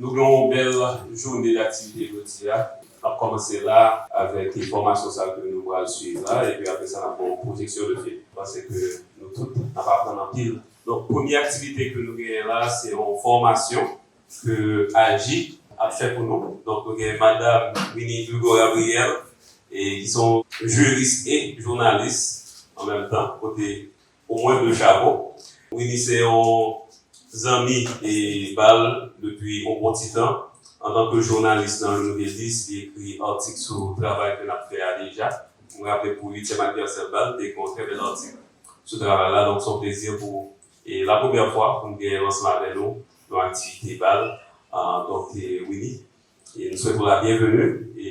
Nou gen yon bèl joune d'aktivite jodi a. N ap kòmanse la avèk fòmasyon sa ke nou pral suiv la epi apre sa n ap ba w pwojeksyon de fim. M panse ke nou tout n ap aprann anpil. Donk premye aktivite ke nou genyen la se yon fòmasyon ke Aji ap fè pou nou. Donk nou gen Madam Winnie Hugo Gabriel ki se yon jiris e jounalis an menm tan kote Pou mwen de chapo. Winnie se yon zanmi pal depi yon bon ti tan. Antanke jounalis nan Le Nouvelliste li ekri atik sou travay ke nap fè a deja. M raple pou uityèm anivèsè pal te gen yon trè bèl atik sou travay la donk se yon plezi pou e la premyè fwa pou m gen lansman avè nou yon aktivite bal donk Winnie e m swete w la byenveni e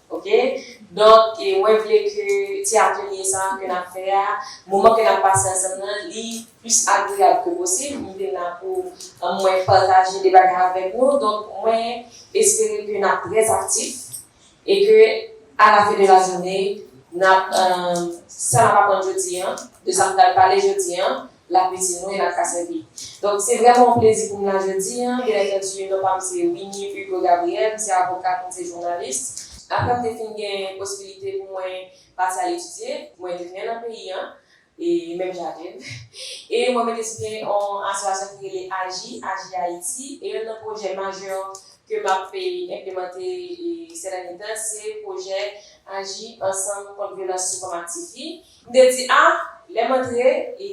Ok donk mwen vle ke ti atelye sa ke nap fè a moman ke nap pase ansanm nan li plis agreyab ke posib m vin la pou mwen pataje de bagay avèk nou donk mwen espere ke nap trè aktif e ke a la fen de la jounen nap sa nap aprann jodi an de sa m pral pale jodi an la piti nou e n ap ka sèvi. Donk, se vrèman yon plezi pou m la jodi. Byenantandi, non pa m se Winnie Hugo Gabriel, m se avokat, m se jounalis. Apre m te fin gen posibilite pou mwen pati al etidye, mwen tounen nan peyi an, e menm jan avè m, e mwen mete sou pye yon asosiyasyon ki rele AJI, Aji Ayiti, e youn nan pwojè majè ke m ap enplemante sèdènye tan se pwojè Aji Ansanm Kont Vyolans sou Fanm ak Tifi, M te di, A, lè m antre, e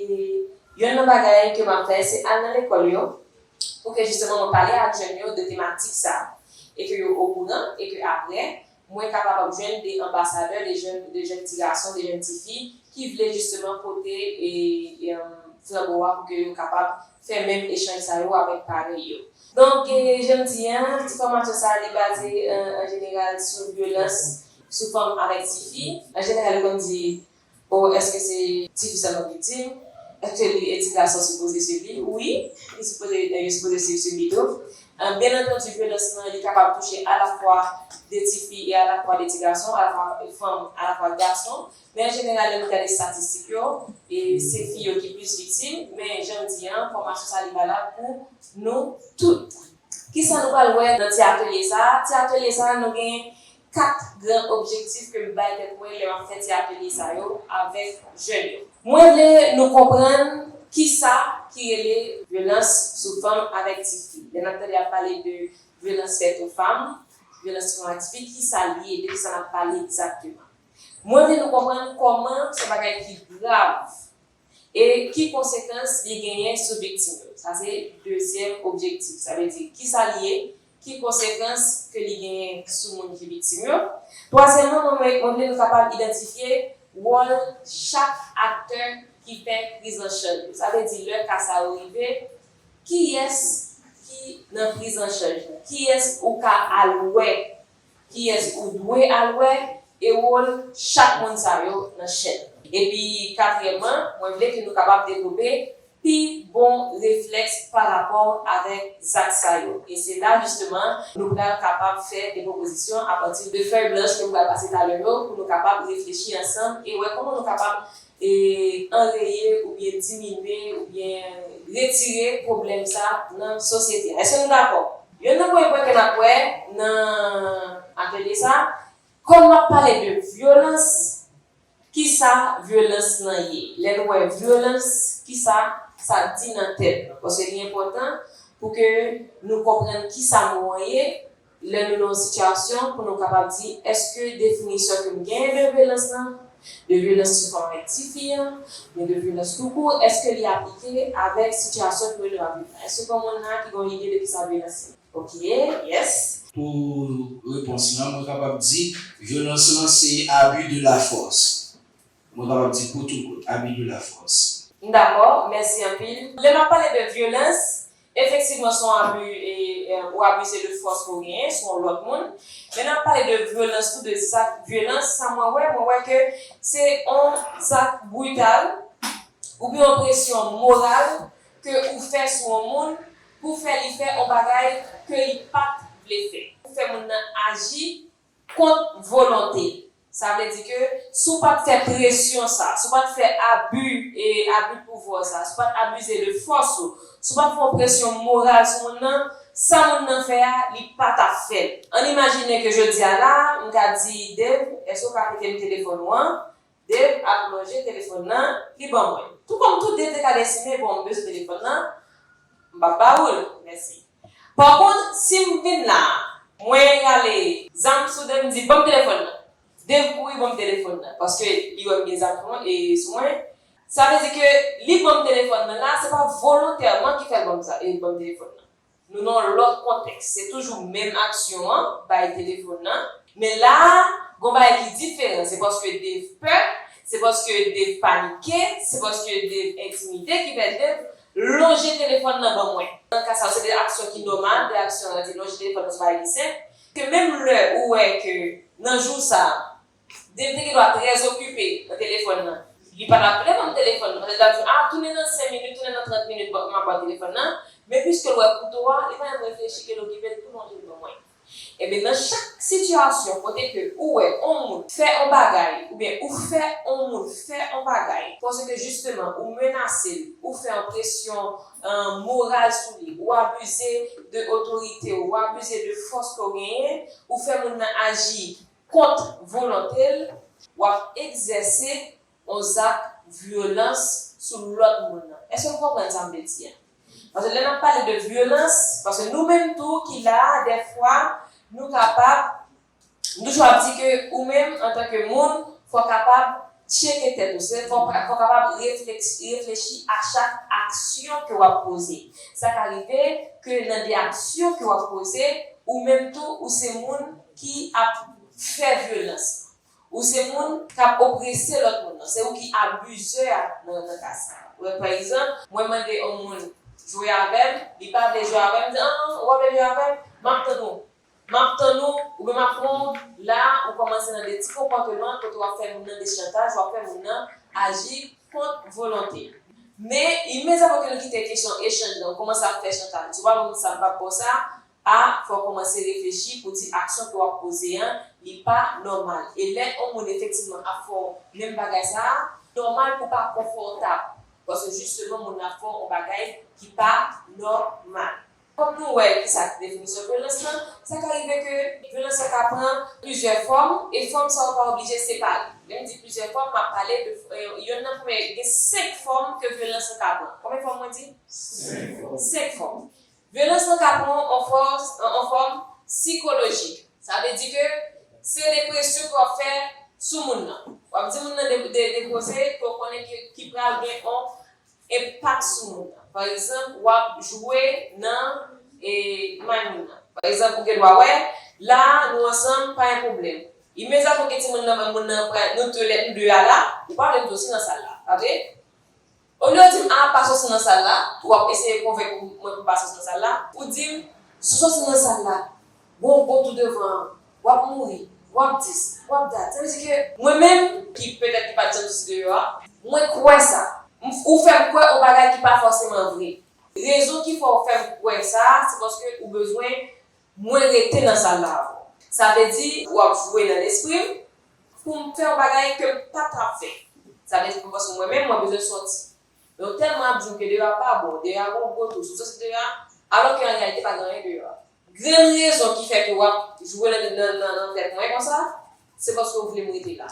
youn nan bagay ke m ap fè, se al nan lekòl yo, pou ke jisteman mwen pale ak jèn yo de tematik sa a, e ke yo okouran, e ke apre, mwen ka kapab jwenn de anbasadè, de jèn, de jèn ti gason, de jèn ti fi, ki vle jisteman pote e, e, flanbo a pou ke yo kapab fè menm echanj sa yo avèk parèy yo. Donk, jèn di a, ti fòmasyon sa a li baze an jeneral sou vyolans sou fanm avèk tifi. An jeneral yo konn di o eske se tifi sèlman ki viktim, eske li e ti gason sipoze swiv li, wi li sipoze yo sipoze swiv tifi tou. Byen antandu vyolans lan li kapab touche alafwa de tifi e alafwa de ti gason, alafwa fanm alafwa gason, men an jeneral lè nou gade statistik yo e se fi yo ki plis viktim, men janm di an fòmasyon sa li valab pou nou tout. Kisa nou pral wè nan ti atelye sa? Ti atelye sa nou gen 4 gran objektif ke m bay tèt mwen lè m ap fè ti atelye sa yo avèk jèn yo. Mwen vle nou konprann kisa ki rele vyolans sou fanm avèk ti fi. Lè n ap tande y ap pale de vyolans fèt o fanm, vyolans sou fanm ak ti fi, kisa li ye? De kisa n ap pale egzakteman? Mwen vle nou konprann kòman se yon bagay ki grav. e ki konsekans li genyen sou viktim yo. Sa se dezyèm objektif. Sa vle di, ki sa li ye, ki konsekans ke li genyen sou moun ki viktim yo. Twazyèmman, mwen vle nou kapab idantifye wòl chak aktè ki fè priz an chaj yo. Sa vle di, lè ka sa yo rive, kiyès ki nan priz an chaj la? Kiyès ou ka al wè Kiyès ou dwe al wè e wòl chak moun sa yo nan chèn nan. Epi katriyèmman, mwen vle ke nou kapab devlope pi bon reflèks pa rapò avèk zak sa yo. E se la jisteman nou pral kapab fè de pwopozisyon apati de fèy blanch ke m pral pase talè yo pou nou kapab reflechi ansanm e wè kòman nou kapab anreye oubyen diminye oubyen retire pwoblèm sa nan sosyete a. Èske nou dakò? Youn nan premye pwen ke nap wè nan atelye sa, kòm map pale de vyolans, kisa vyolans lan ye? Lè nou wè vyolans, kisa sa di nan tèt nou? Paske li enpòtan pou ke nou konprann kisa mo an ye, lè nou nan yon sitiyasyon pou nou kapab di, eske definisyon ke m genyen de vyolans lan, De vyolans sou fanm ak tifi an, men de vyolans tou kou, èske li aplike avèk sitiyasyon kote nou ap viv la? Èske gen moun la ki gen yon ide de kisa vyolans ye? Ok, yes. Pou repons lan, mwen kapab di vyolans lan se abus de la force. Mwen kapab di kout ou kout, abus de la force. M dakò, mèsi anpil. Lè m ap pale de vyolans, Efektivman son abu e ou abuze de fòs ke w genyen sou yon lòt moun. Men nan pale de vyolans tou de zak vyolans sa mwen wè mwen wè ke se yon zak brital ou byen yon presyon moral ke ou fè sou yon moun pou fè li fè yon bagay ke li pat vle fè. Ou fè moun nan aji Kont volonte. Sa vle di ke si w pat fè presyon sa, si w pat fè abi e abi de pouvwa w sa, si w pat abize de fòs ou, si w pat fè yon presyon moral sou moun nan, sa moun nan fè a, li pa t ap fè l. Ann imajine ke jodi a la a, m ka di Dave, èske w ka prete m telefòn ou an? Dave ap manje telefòn nan li ban mwen. Tou kòm tou de te ka gen simen bon m bezwen telefòn nan m pap ba ou l mèsi. Pa kont si m vin la a mwen rale. Zam sou de m di ban m telefòn nan. Dave kouri ban m telefòn nan paske li wè m gen zam sou mwen e sou mwen. Sa vle di ke li ban m telefòn nan la se pa volontèman ki fè l ban m sa e ban m telefòn nan. Nou nan yon lòt kontèks. Se toujou menm aksyon an, bay telefòn nan, men la a, gon bagay ki diferan. Se paske Dave pè, se paske Dave panike, se paske Dave entimide ki fè Dave lonje telefòn nan ban mwen. Nan ka sa yo, se 2 aksyon ki nòmal, 2 aksyon rete. Lonje telefòn nan se yon bagay ki senp, ke menm lè ou wè ke nan jou sa a, Di l te gendwa trè zokipe nan telefòn nan. Li pa t ap vle ban m telefòn nan. Pètèt l ap di, A, tounen nan sen minit, tounen nan trant minit m ap ba w telefòn nan. Men piske l wè kouto a, li pa menm reflechi ke l okipe, l tou lonje l ban mwen. Enben, nan chak sitiyasyon kote ke ou wè on moun fè on bagay oubyen ou fè on moun fè on bagay paske jisteman ou menase l, ou fè on presyon moral sou li, ou abize de otorite ou, ou abize de fòs ke w genyen, ou fè moun nan aji kont volonte l, w ap egzèse yon zak vyolans sou lòt moun nan. Èske nou konprann sa m vle di a? Paske lè n ap pale de vyolans, paske nou menm tou ki la a dèfwa nou kapab, nou toujou ap di ke ou menm antanke moun fò w kapab Tcheke tèt ou, se fòk ou kapab reflechi a chak aksyon ke wap poze. Sa ka rive ke nan de aksyon ke wap poze, ou menm tou ou se moun ki ap fè vyolans. Ou se moun kap oprese lòt moun lan. Se ou ki abuseur a nan ka sa. Pa egzanp, mwen mande yon moun jwe avèm, li pa vle jwe avèm, m di an, ou pa vle jwe avèm, map tann ou. Map tann ou, ou menm ak Ronld, la a ou kòmanse nan de ti konpòteman kote wap fè moun nan de chantaj wap fè moun nan aji kont volonte l. Men imedyatman ke nou kite kesyon echanj lan ou kòmanse ap fè chantaj ou pa moun sa m pap baw sa a fò w kòmanse reflechi pou di aksyon ke wap poze an li pa nòmal e lè on moun efektivman ap fè w menm bagay sa a nòmal pou w pa konfòtab paske jisteman moun nan ap fè w on bagay ki pa nòmal. Fòk nou wè ki sa ki definisyon vyolans lan, sa ka rive ke vyolans la ka pran plizyè fòm e fòm sa yo pa oblije separe. Lè m di plizyè fòm, m ap pale de yonn nan premye, gen 5 fòm ke vyolans lan ka pran. Konbyen fòm mwen di? 5 fòm. Vyolans lan ka pran yon fòs, yon fòm sikolojik. Sa vle di ke se de presyon ke w ap fè sou moun nan. W ap di moun nan de koze ke w konnen ke ki pral gen yon Enpak sou moun nan. Pa egzanp, w ap jwe nan may moun nan. Pa egzanp, ou gen dwa wè, La a, nou ansanm, pa gen pwoblèm. Imedyatman gen timoun nan may moun nan, pral, Nou tou lè, nou de a la, ou pa vle m soti nan sal la, pa vre? Olye w di m, A, pa soti nan sal la, ou ap eseye konvenk mwen pou m pa soti nan sal la, ou di m, Si w soti nan sal la, Bon bon tou devan an wap mouri wap dis wap dat sa vle di ke. Mwen menm ki petèt ki pat janm soti deyò a. Mwen kwè sa. M ou fè m kwè on bagay ki pa fòseman vre. Rezon ki fè w fè m kwè sa se paske ou bezwen mwen rete nan sal la avè w. Sa vle di. W ap jwe nan lespri m pou m fè on bagay ke m pa t ap fè. Sa vle di pou paske mwen menm mwen bezwen sòti. Men yo tèlman ap di w ke deyò a pa bon, deyò a gon gwo tou, sou sa sou deyò a, alò ke an reyalite pa gen anyen deyò a. Grenn rezon ki fè ke w ap jwe nan nan tèt mwen konsa, se paske w vle m rete la.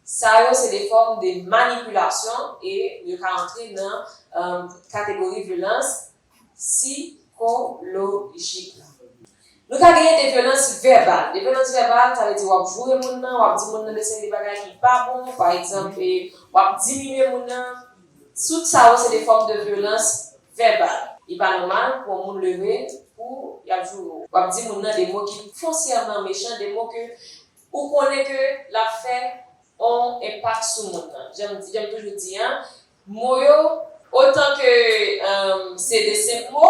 Sa yo se de fòm de manipilasyon e yo ka antre nan kategori vyolans Sikolojik. Nou ka genyen devyolans vèbal. Devyolans vèbal, sa vle di w ap joure moun nan, w ap di moun nan de seri de bagay ki pa bon, pa egzanp, w ap diminye moun nan, tout sa yo se de fòm de vyolans vèbal. Li pa nòmal pou yon moun leve pou y ap joure w. W ap di moun nan de mo ki fonsyèman mechan, de mo ke ou konnen ke l ap fè yon enpak sou moun nan. Jan m toujou di an, Mo yo, otan ke se de senp mo,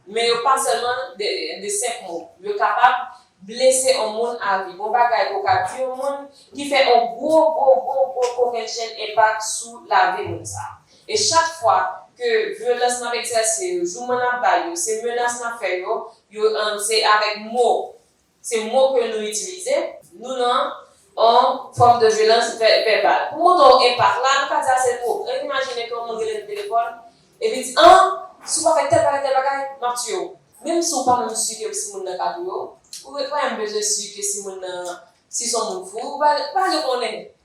men yo pa sèlman de senp mo. Yo kapab blese on moun avi. On bagay ke w ka di on moun ki fè on gwo, gwo, gwo, gwo kokennchenn enpak sou lavi moun sa a. E chak fwa ke vyolans n ap egzèse yo, jouman n ap ba l yo, se menas n ap fè yo, yo se avèk mo. Se mo ke nou itilize, nou nan on fòm de vyolans vèbal. Pou montre w enpak la, nou ka di a se mo. Rèn imajine ke yon moun rele nan telefòn e li di, an, si w pa fè tèl bagay, tèl bagay, m ap tiye w. Menm si w pa menm si ke si moun nan ka touye w, ou pa menm bezwen si ke si moun nan, si se yon moun fou, ou pa, ou pa bezwen konnen.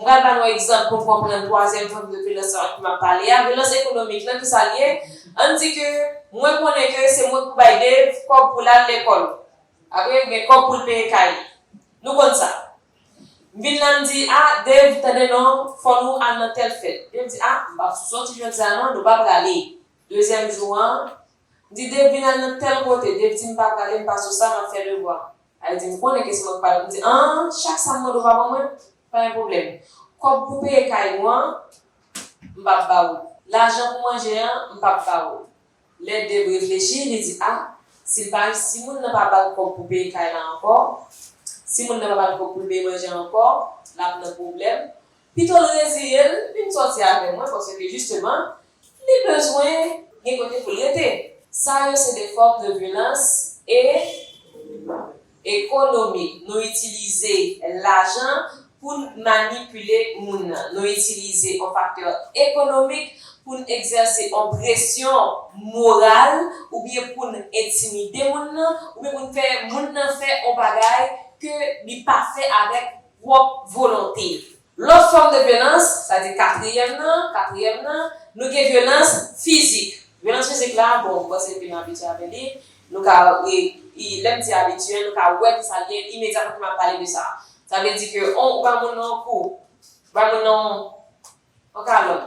M pral ba nou egzanp pou n konprann twazyèm fòm de vyolans sa ki m ap pale a, vyolans ekonomik lan. Kisa l ye? An n di ke mwen konnen ke se mwen pou bay Dave kòb pou l al lekòl, ok, oubyen kòb pou l peye kay li. Nou konn sa. M vin la m di, a, Dave, tande non, fò nou al nan tèl fèt. Dave di, a, m pa p soti jodi a non, nou pa prale. Dezyèm jou an, m di, Dave, vin al nan tèl kote. Dave di, m pa prale, m pa sou sa, m ap fè devwa. Al di m konnen ke se mwen k pral di an chak sa m mande w pa ban mwen pa gen pwoblèm kòb pou peye kay nou an m pap ba ou lajan pou manje an m pap ba ou lè Dave reflechi li di a si l pa si moun nan pa ba l kòb pou peye kay la ankò si moun nan pa ba l kòb pou l peye manje an ankò l ap nan pwoblèm Pito l reziye l vin sòti avè mwen paske jisteman li bezwen gen kote pou l rete. Sa yo se de fòm de vyolans e ekonomik. Nou itilize lajan pou n manipile moun nan. Nou itilize yon faktè ekonomik pou n egzèse yon presyon moral oubyen pou n entimide moun nan oubyen pou n fè moun nan fè yon bagay ke li pa fè avèk pwòp volonte. Lòt fòm de vyolans, sa di katriyèm nan, katriyèm nan, nou gen vyolans fizik. Vyolans fizik la, bon, m panse depi nou abitye avè li, nou ka, lè m di abitye, nou ka wè ki sa l ye imedyatman ke m ap pale de sa. Sa vle di ke on, ou bay moun nan on kou, ou bay moun nan on. Ok alò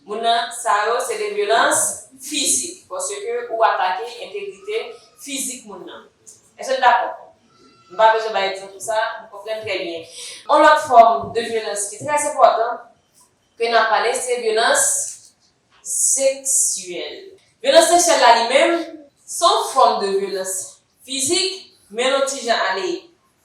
moun nan sa yo se de vyolans fizik paske ou atake entegrite fizik moun nan. Èske n dakò? M pa bezwen bay egzanp pou sa, nou konprann trè byen. On lòt fòm de vyolans ki trè enpòtan ke n ap pale se vyolans seksyèl. Vyolans seksyèl la li menm se yon fòm de vyolans Fizik, men l on ti jan ale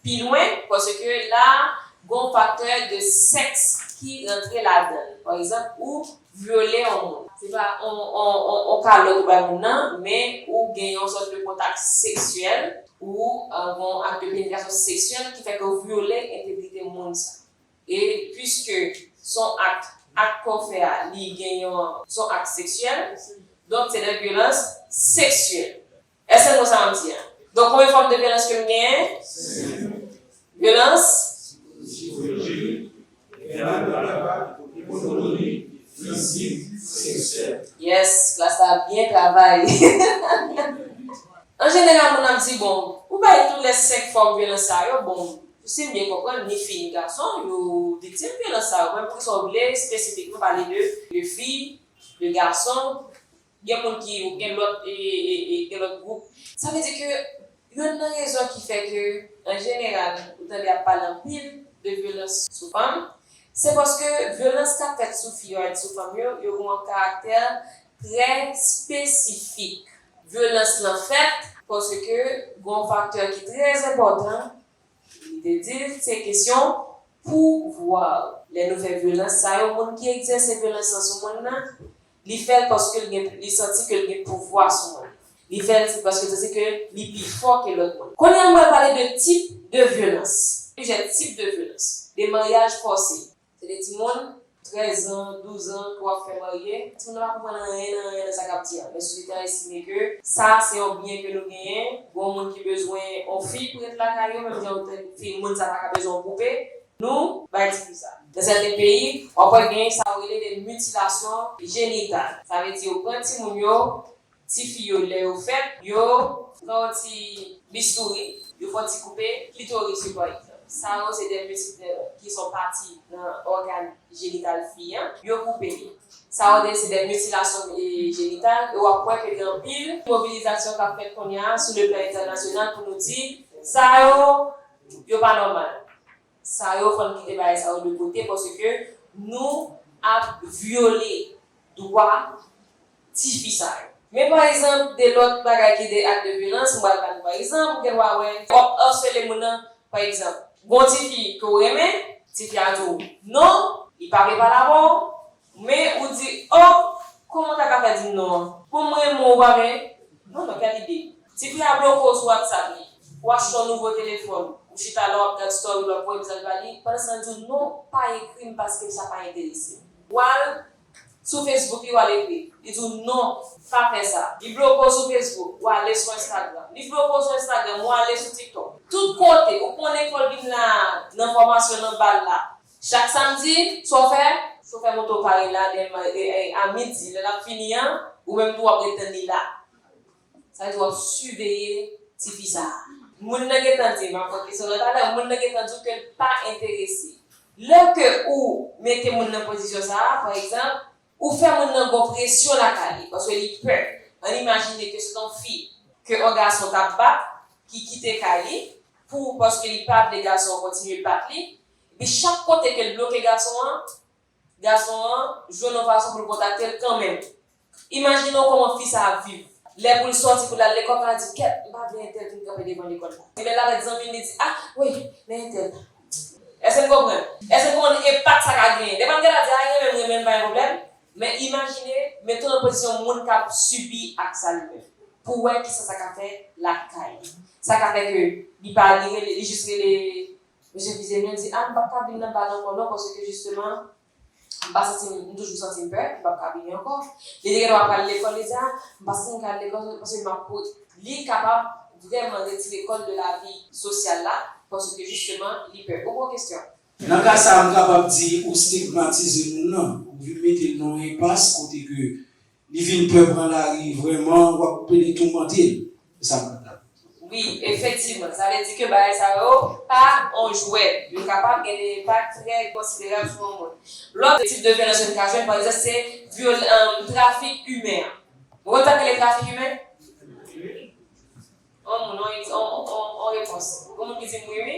pi lwen, paske la a gon faktè de sèks ki rantre ladan l. Pa egzanp, ou vyole on moun. Se pa on on on kalòt ou bay moun nan, men ou gen yon sòt de kontak seksyèl, ou gon ak de penetrasyon seksyèl ki fè ke w vyole entegrite moun sa. E piske s on ak, ak ke w fè a, li gen yon, s on ak seksyèl, donk se de vyolans seksyèl. Èske n wè sa m ap di a? Donk, konbyen fòm de vyolans ke m genyen? Vyolans. Yes, klas la ap byen travay. An jeneral, moun ap di, Bon, ou bay tout lè senk fòm vyolans sa yo, bon, si m byen konprann, ni fi ni gason yo viktim vyolans sa yo. Men poukisa ou vle espesifikman pale de fi, de gason? Gen moun ki yo gen lòt gen lòt gwoup. Sa vle di ke youn nan rezon ki fè ke an jeneral ou tande ap pale anpil de vyolans sou fanm, se paske vyolans kap fèt sou fi yo ak sou fanm yo, yo gen yon karaktè trè espesifik. Vyolans lan fèt paske gen yon faktè ki trè enpòtan, li te di l, se kesyon pouvwa. Lè nou fè vyolans sa yo, moun ki egzèse vyolans lan sou moun nan, Li fè l paske l gen li santi ke l gen pouvwa sou mwen. Li fè l paske l santi ke li pi fò ke lòt moun. Kounye a m pral pale de tip de vyolans. Plizyè tip de vyolans. De maryaj fòse. Se de timoun 13 an, 12 an ke w ap fè marye. Timoun nan pa konprann anyen nan anyen nan sa k ap di an. Men sosyete an estime ke sa se yon byen ke nou genyen. Gen yon moun ki bezwen yon fi pou ret lakay yo menm jan yon fi moun sa pa ka bezwen yon poupe. Nou bay ti kou sa. Nan sèten peyi, w ap wè genyen sa yo rele de mitilasyon jenital. Sa vle di yo pran timoun yo, tifi yo lè yo fèt, yo pran yon ti bistouri, yo fè yon ti koupe klitoris yo pa egzanp. Sa yo se de miti, ki se yon pati nan ògàn jenital fi an, yo koupe li. Sa yo se de mitilasyon jenital e w ap wè ke gen anpil mobilizasyon k ap fèt kounye a sou le plan entènasyonal pou nou di sa yo Yo pa nòmal sa yo fòn kite bagay sa yo de kote paske nou ap vyole dwa tifi sa yo. Men pa egzanp de lòt bagay ki de ak de vyolans m pral ba nou pa egzanp ou gen dwa wè w ap arsele moun nan pa egzanp gon tifi ke w renmen tifi a di w non li pa vle pale avè w Men ou di oh Kòman w ta ka fè di m non an. Pou m renmen w ou pa men Non non kèl ide. Ti fi a bloke w sou whatsapp li. Ou achte yon nouvo telefòn. Ou chita la w ap gad story l wap voye mesaj ba li. Pandan san l di w non pa ekri m paske sa pa enterese m. Ou al Sou facebook li w al ekri. Li di w non pa fè sa. Li bloke w sou facebook. Ou ale sou instagram. Li bloke w sou instagram. Ou ale sou tiktok. Tout kote. Ou konnen fò l vin la nan fòmasyon nan bal la. Chak samdi, chofè. Chofè moto pa ret la dem a midi lè lap fini an ou menm tou wap ret tann li la. Sa vle di wap siveye ti fi sa a. Moun nan gentan di, map pran kesyon nan talè, moun nan gentan di w ke l pa enterese. Lè ke ou mete moun nan pozisyon sa a, pa egzanp, ou fè moun nan gon presyon lakay li paske li pè. Ann imajine ke se t on fi ke on gason tap bat ki kite kay li pou paske li pa vle gason an kontinye bat li, Epi chak kote ke l bloke gason an, gason an jwenn yon fason pou l kontakte l kanmenm. Imajine w kòman fi sa ap viv. Lè pou l sòti pou l al lekòl, pa di, Kèt, m pa vle entèl vin kanpe devan lekòl la. Li menm avèk zanmi l, li di, A, wi, men entèl la. Èske n konprann? Èske n konprann enpak sa ka genyen? Dèfwa n gentan di, A, renmen m, renmen l, pa gen pwoblèm. Men imajine, mete w nan pozisyon moun k ap sibi ak sa li menm, pou w wè kisa sa ka fè lakay li. Sa ka fè ke li pa rive, li jis rele Mesye Bizemy an di ah m pap ka vin nan bal ankò non paske jisteman m pa santi m, m toujou santi m pè, m pap ka vini ankò. Li te gendwa pral lekòl, li di ah m pa santi m ka al lekòl paske m ap pou. Li kapab vrèman retire kò l de lavi sosyal la paske jisteman li pè. Ou pran kesyon? Nan ka sa a m kapab di ou stigmatize moun nan, ou vin mete non enpas kote ke Li vin pè pran lari vrèman wap pede toumantel se sa map tande. Wi efektivman sa vle di ke bagay sa yo pa on jwèt, yo kapab gen de enpak trè konsiderab sou on moun. Lòt tip de vyolans jèn ka jwenn pa egzanp se trafik imen an. Ou konn sa k rele trafik imen? On moun, on repons. Gon moun ki di m wi wi?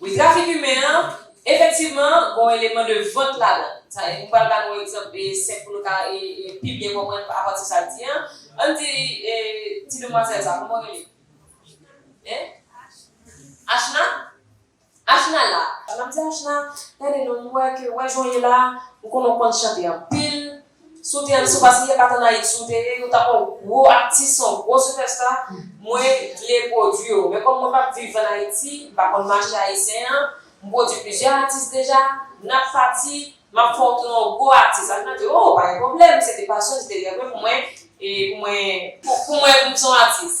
Wi trafik imen an efektivman gon eleman de vant ladan sa e m pral ba nou egzanp e senp pou nou ka e pi byen konprann apati sa l di an ann di e ti demwazèl sa kòman w rele en Achna Achna la m ap di Achna gade non m wè ke wè jan w ye la m konnen w konn chante anpil Si w te an si w pa si e pat an ayiti w te ye yo tap wè w gwo atis son gwo sipèsta mwen vle pwodwi yo men kòm mwen pap viv an ayiti m pa konn mache ayisyen an m pwodwi plizyè atis deja nap pati map fè w tounen w gwo atis ak nan di oo pa gen pwoblèm se te pasyon se te rèv mwen pou mwen pou mwen vin son atis.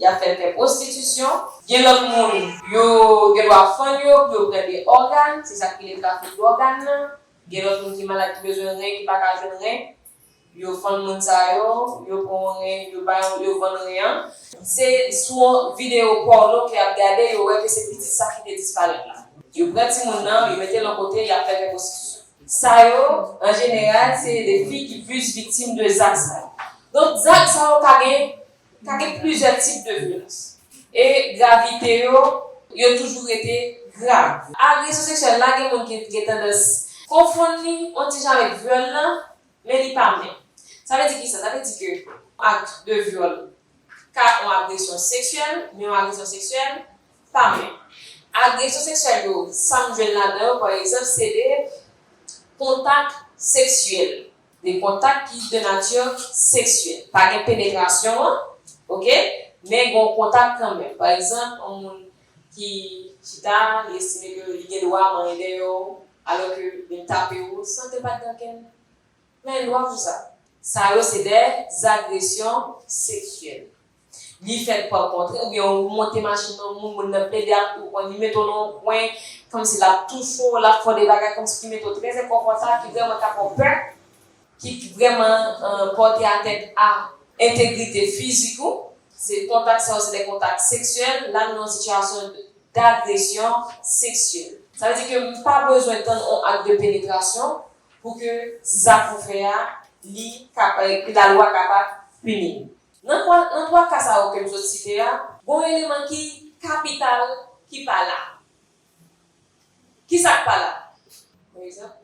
Y ap fè l fè pwostitisyon. Gen lòt moun, yo gen dwa fann yo pou yo prete ògàn, se sa k rele trafik dògàn nan. Gen lòt moun ki malad ki bezwen ren, ki pa ka jwenn ren, yo fann moun sa yo, yo pran yon ren, yo ba yon, yo vann ren an. Se sou yon videyo pòno ke y ap gade, yo wè ke se pitit sa ki te disparèt la. Yo pran timoun nan, yo mete l yon kote, y ap fè l fè pwostitisyon. Sa yo, an jeneral, se de fi ki plis viktim de zak sa yo. Donk zak sa yo ka gen Ka gen plizyè tip de vyolans. E gravite yo, yo toujou rete grav. Agresyon seksyèl la gen moun ki gen tandans. Konfonn li on ti jan avèk vyòl lan, men li pa menm. Sa vle di kisa? Sa vle di ke on akt de vyòl ka on agresyon seksyèl, men on agresyon seksyèl pa menm. Agresyon seksyèl yo, sa m jwenn ladan yo, pa egzanp, se de kontak seksyèl. De kontak ki de nature sexuelle. Pa gen penetration an ok men gon kontak kanmenm. Pa egzanp yon moun ki chita li estime ke li gen dwa manyen dèyè w alò ke vin tape w san ke pat gen okenn men dwa pou sa. Sa yo se de zagresyon seksyèl. Li fèt pa kontre oubyen ou monte machin yon moun, moun nan plede ak ou, on li mete w nan yon kwen, kòmsi l ap touche w, l ap fè w de bagay kòmsi ki mete w trè enkonfòtab, ki vrèman ka fè w pè, ki vrèman pòte atèt a entegrite fizik ou, se kontak sa yo se de kontak seksyèl, la nou nan yon sitiyasyon dagresyon seksyèl. Sa vle di ke m pa bezwen tann on ak de penetrasyon pou ke zak ou fè a li ka, pou lalwa kapab pini m. Nan kwa, nan twa ka sa yo ke m sot site a, gon w eleman ki kapital ki pa la. Ki sa k pa la? Yon egzanp,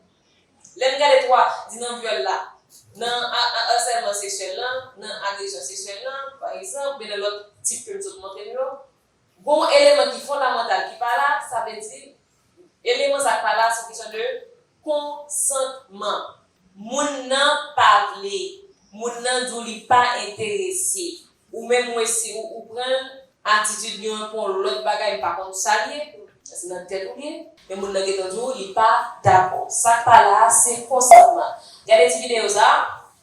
lè n gade twa, di nan vyòl la, nan a, a asèlman seksyèl la, nan agresyon seksyèl la, pa egzanp, oubyen nan lòt tip ke m sot montre n yo, gon w eleman ki fondamantal ki pa la, sa vle di, Eleman sa k pa la se kesyon de konsantman. Moun nan pa vle. Moun nan di w li pa enterese. Ou menm ou esi ou ou pran l. Atitid li an pou yon lòt bagay m pa konn sa l ye. Se nan tèt ou l ye. Men moun nan gentan di w li pa dakò. Sa k pa la a se konsantman. Gade ti videyo sa a.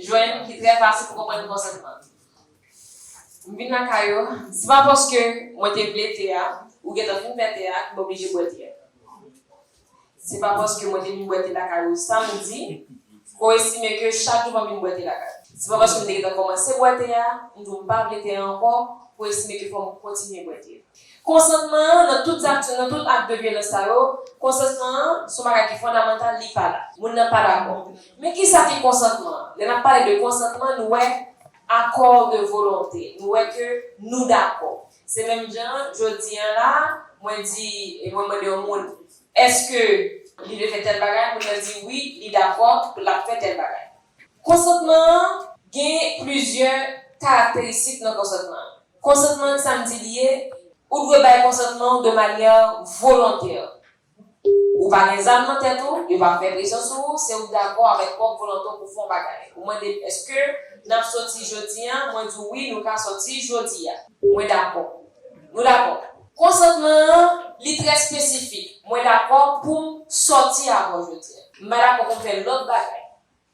Jwenn, ki trè fasil pou konprann konsantman. M vin lakay ou, se pa paske mwen te vle te a, ou gentan fin fè te a, ki m oblije bwè te a. Se pa paske mwen te vin bwè te lakay ou samdi, ke w estime ke chak jou fòm vin bwè te lakay ou. Se pa paske m te gentan kòmanse bwè te a, m di w m pa vle te a ankò, pou estime ke fòm kontinye bwè te a. Konsantman an nan tout zak nan tout ak de vyolans sa yo, konsantman an son bagay ki fondamantal li pa la. Moun nan pa dakò. Men ki sa ki konsantman an? Lè n ap pale de konsantman nou wè accord de volonté, nou wè ke nou dakò. Se menm jan an jodi an la a mwen di e mwen mande yon moun èske li vle fè tèl bagay, moun nan di wi li dakò pou l ap fè tèl bagay. Konsantman an gen plizyè karakteristik nan konsantman an. Konsantman an sa m di li ye, ou dwe bay konsantman ou de manyè volontè. Ou pa gen zam nan tèt ou, yo pa fè presyon sou ou, se ou k dakò avèk pwòp volonte w pou w fè yon bagay. Ou mande m èske n ap soti jodi an, mwen di w wi nou ka soti jodi a. Mwen dakò. Nou dakò. Konsantman an, li trè spesifik, mwen dakò pou m sòti avè w jodi a. M pa dakò pou m fè lòt bagay.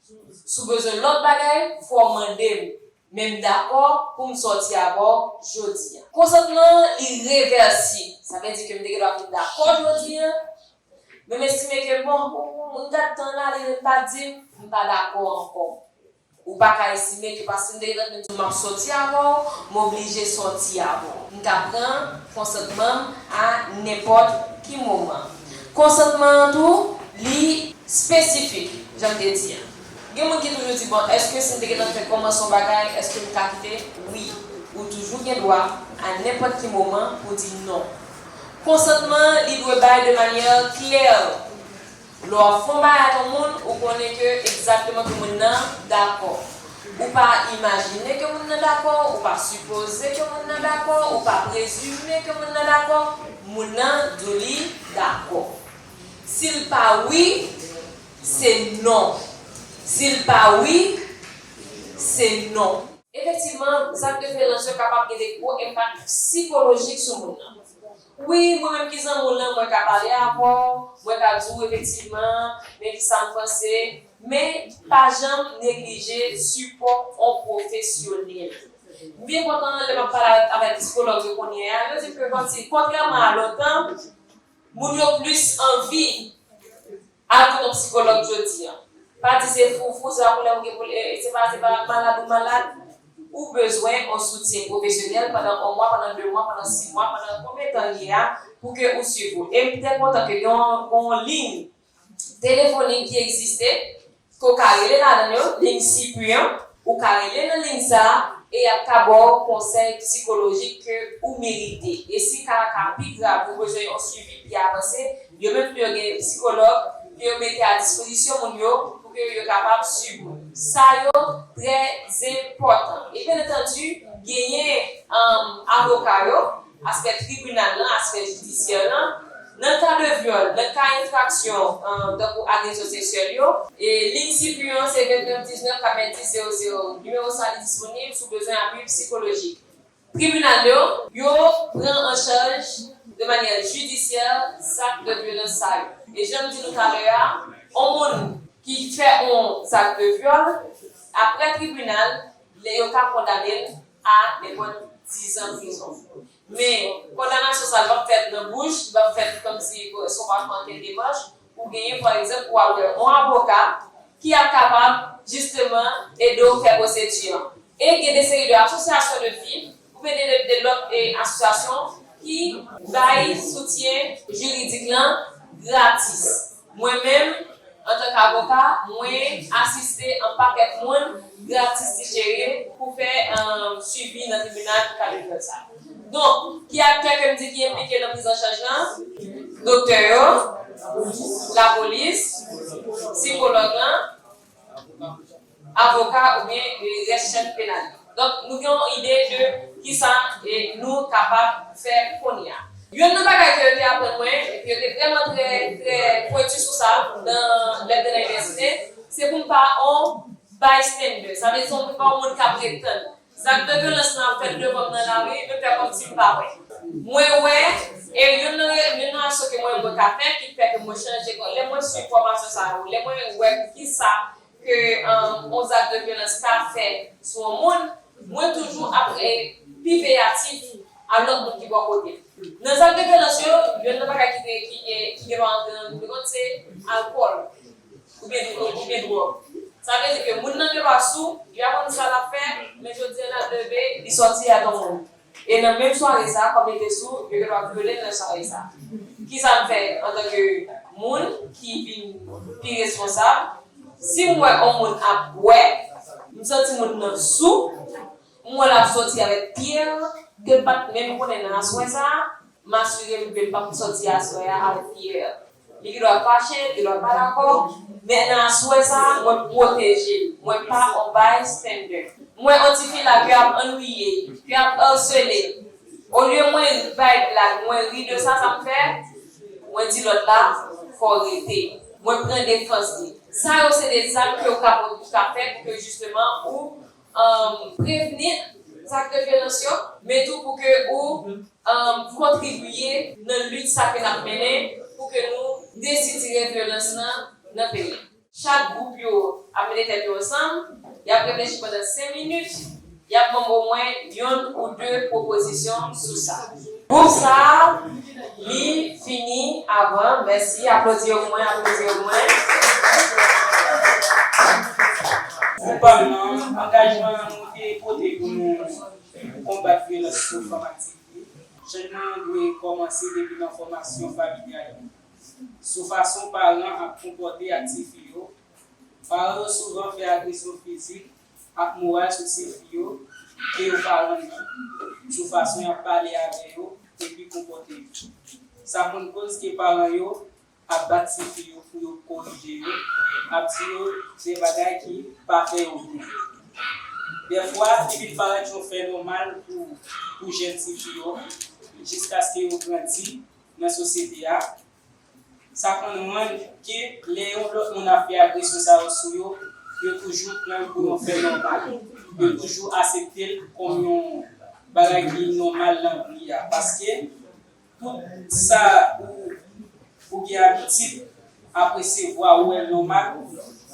Si w bezwen lòt bagay, fò w mande m. Men m dakò pou m sòti avè w jodi a. Konsantman an, li revèsib. Sa vle di ke m te gendwa vin dakò jodi a, men m estime ke bon, m gad tan an ale, men m pa di m, m pa dakò ankò. Ou pa ka estime ke paske m te gentan di w m ap sòti avè w, m oblije sòti avè w. M ka pran konsantman m a nenpòt ki moman. Konsantman an tou, li. Spesifik, jan m te di an. Gen moun ki toujou di, bon, èske si m te gentan fè kòmanse yon bagay, èske m ka kite? Wi. Ou toujou gen dwa, a nenpòt ki moman, pou di non. Konsantman an, li dwe bay de manyè klè. Lè w ap fè yon bagay ak yon moun, ou konnen ke egzakteman ke moun nan dakò. Ou pa imajine ke moun nan dakò, ou pa sipoze ke moun nan dakò, ou pa prezime ke moun nan dakò, moun nan di w li dakò. Si l pa wi, se non. Si l pa wi, se non. Efektivman, zak deferans yo kapab gen de gwo enpak sikolojik sou moun nan. Wi, mwen menm ki zanmi w lan, mwen ka pale avè w, mwen ka di w efektivman men ki sa m panse, men pa janm neglije sipò on pwofesyonèl. M byen kontan lè m ap pale avèk psikològ yo kounyè a, yo di m ke kontrèman a lontan, moun yo plis anvi Al kote yon psikològ jodi an. Pa di se foufou se pa poulè ou gen pou se pa se pa malad ou malad. Ou bezwen yon soutyen pwofesyonèl pandan yon mwa, pandan de mwa, pandan si mwa, pandan konbyen tan l ye a pou ke ou swiv ou. E m te kontan ke gen yon liy telefonik ki egziste ke w ka rele ladan yo, ligne circuit an, ou ka rele nan ligne sa a e yap ka ba w konsèy psikolojik ke ou merite. E si ka a ka pi grav, ou bezwen yon suivi pi avanse, yo menm tou yo gen psikològ ke yo mete a dispozisyon moun yo pou ke yo kapab suiv moun sa yo trè zenpòtan. E byen antandi genyen avoka yo Aspè tribinal lan, aspè jidisyè lan, Nan ka de vyòl, nan ka enfraksyon tankou agresyon seksyèl yo. E liy CIPUH an se 29 19 90 00. Nimewo sa li disponib si w bezwen apui psikolojik. Tribinal yo. Yo pran an chaj de manyè jidisyè zak de vyolans sa yo. E jan m di nou talè a, on moun ki fè on zak de vyòl, aprè tribinal, yo ka kondane l a nenpòt dizan prizon. Men, kondanasyon sa a li p ap fèt nan bouch, li p ap fèt kòmsi èske w pa fè ankenn demach, ou genyen pa egzanp pou w al wè yon avoka ki ap kapab jisteman ede w fè pwosedi an. E gen de seri de asosyasyon de fim oubyen de de lòt asosyasyon ki bay soutyen jiridik lan gratis. Mwen menm, antank avoka, mwen asiste an pakèt moun gratis ti cheri pou fè swivi nan tribinal pou ka deklare sa. Donk, ki aktè ke m di ki enplike nan priz an chaj lan? Doktè yo, lapolis, sikològ lan, avoka oubyen rès chèn penal yo. Donk nou gen yon ide de kisa nou kapab fè kounye a. Youn nan bagay ke yo te aprann mwen, epi yo te vrèman trè trè pwentu sou sa nan lè m te nan inivèsite, se pou m pa on bystander. Sa vle di pou m pa on moun k ap ret tann. Zak de vyolans lan ap fèt devanm nan lari, m fè kòmsi m pa wè. Mwen wè, e youn nan youn nan aksyon ke mwen mwen ka fè ki fè ke mwen chanje kò lè mwen swiv fòmasyon sa yo, lè mwen wè poukisa ke yon zak de vyolans ka fèt sou yon moun, mwen toujou ap pi veyatif a lòt moun ki bò kote m. Nan zak de vyolans yo, youn nan bagay ki gen dwa antre nan liv de kont se alkòl. Ou gen dwòg, ou gen dwòg. Sa vle di ke moun nan te pa sou, li pa konn sa l ap fè, men jodi an l ap leve, li sòti ak yon moun. E nan menm sware sa a, kòm li te sou, yo kapab vyole l nan sware sa a. Kisa m fè antanke moun ki vin pi responsab? Si m wè yon moun ap bwè, m santi moun nan sou, m wè l ap sòti avèk pye l ke m pa t menm konnen nan aswè sa a, m asire m ke l pap sòti aswè a avèk pye l. Li gendwa fache, li gendwa pa dakò, men nan aswè sa a mwen pwoteje l. Mwen pa on bystander. Mwen on tifi la ke ap annwiye, ke ap harsele. Olye mwen bay blag, mwen ri de sa, sa m fè? Mwen di lòt la, fò w rete. Mwen pran defans li. Sa yo se de zak ke ou ka fè pou ke jisteman ou Prevni zak de vyolans yo, men tou pou ke ou kontribiye nan lit sa ke nap mennen pou ke nou desitire vyolans lan nan peyi an. Chak gwoup yo ap mete tèt yo ansanm, yap reflechi pandan 5 minit, yap banm omwen yonn ou 2 pwopozisyon sou sa. Group sa li fini avan mèsi aplodi yo pou mwen aplodi yo pou mwen. Group pa m nan angajman nou te pote pou nou konbat vyolans sou fanm aktive chanjman an dwe kòmanse depi nan fòmasyon familyal yo sou fason paran ap konpòte ak tifi yo paran yo souvan fè agresyon fizik ak moral sou tifi yo ke yo pa renmen, sou fason y ap pale avè yo epi konpòte yo. Sa konn koz ke paran yo ap bat tifi yo pou yo korije yo, ap di yo de bagay ki pa fè yo byen. Dèfwa, li vin parèt yon fè nòmal pou jèn tifi yo jiskaske yo grandi nan sosyete a, Sa konn rann ke lè yon lòt moun ap fè agresyon sa yo sou yo, yo toujou pran'l pou yon fè nòmal. Yo toujou asepte'l kòm yon bagay ki nòmal nan vi a. Paske tout sa ou gen abitid ap resevwa ou wè'l nòmal,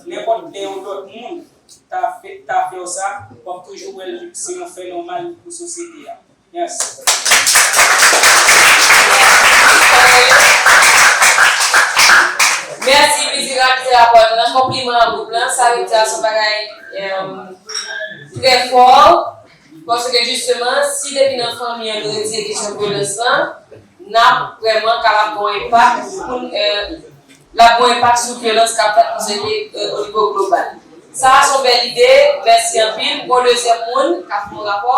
nenpòt lè yon lòt moun ta fè'w sa, wap toujou wè'l se yon fè nòmal pou sosyete a. Merci Bizi Rapide Abòne nan konpliman an bout lan sa vle di a son bagay trè fò paske jisteman si depi nan fanmi an nou retire kesyon vyolans lan nap vrèman kapab gen yon enpak poun lap gen yon enpak sou vyolans kap fèt nan sosyete o nivo global sa a son bèl ide mèsi anpil m gen yon dezyèm moun kap fè yon rapò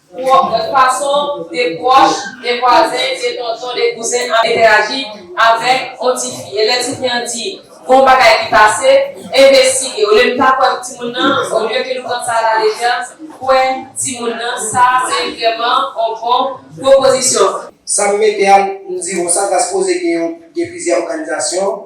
Fason de pwòch, de vwazen, de tonton, de kouzen ap entèaji avèk on tifi. E lè tifi an di gon bagay ki pase, envestige. Olye nou ta kwè timoun nan, olye ke nou pran sa alalejè, kwè timoun nan, sa a se vrèman on bon pwopozisyon. Sa m mete a, m di ou sa Gaskoze gen plizyè òganizasyon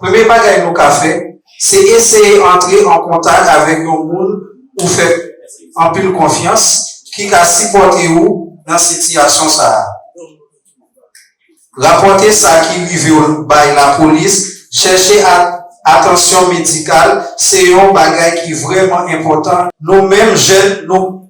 Premye bagay nou ka fè, se eseye antre an kontak avèk yon moun ou fè anpil konfyans ki ka sipòte ou nan sitiyasyon sa a. Rapòte sa ki rive w bay lapolis, chèche atansyon medikal se yon bagay ki vrèman enpòtan. Nou menm jèn, nou.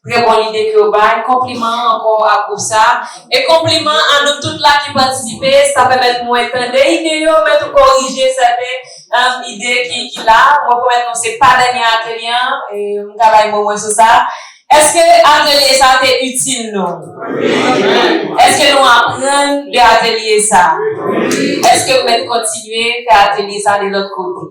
Trè bon lide ke w bay, konpliman ankò a gwoup sa a, e konpliman a nou tout la ki patisipe, sa pèmèt mwen tande ide yo, mwen tou korije sèten ide ki la, mwen pwomèt nou se pa dènye atelye an, m ka bay mo mwen sou sa. Èske atelye sa te itil nou? Èske nou aprann de atelye sa? Èske nou mèt kontinye fè atelye sa de lòt kote?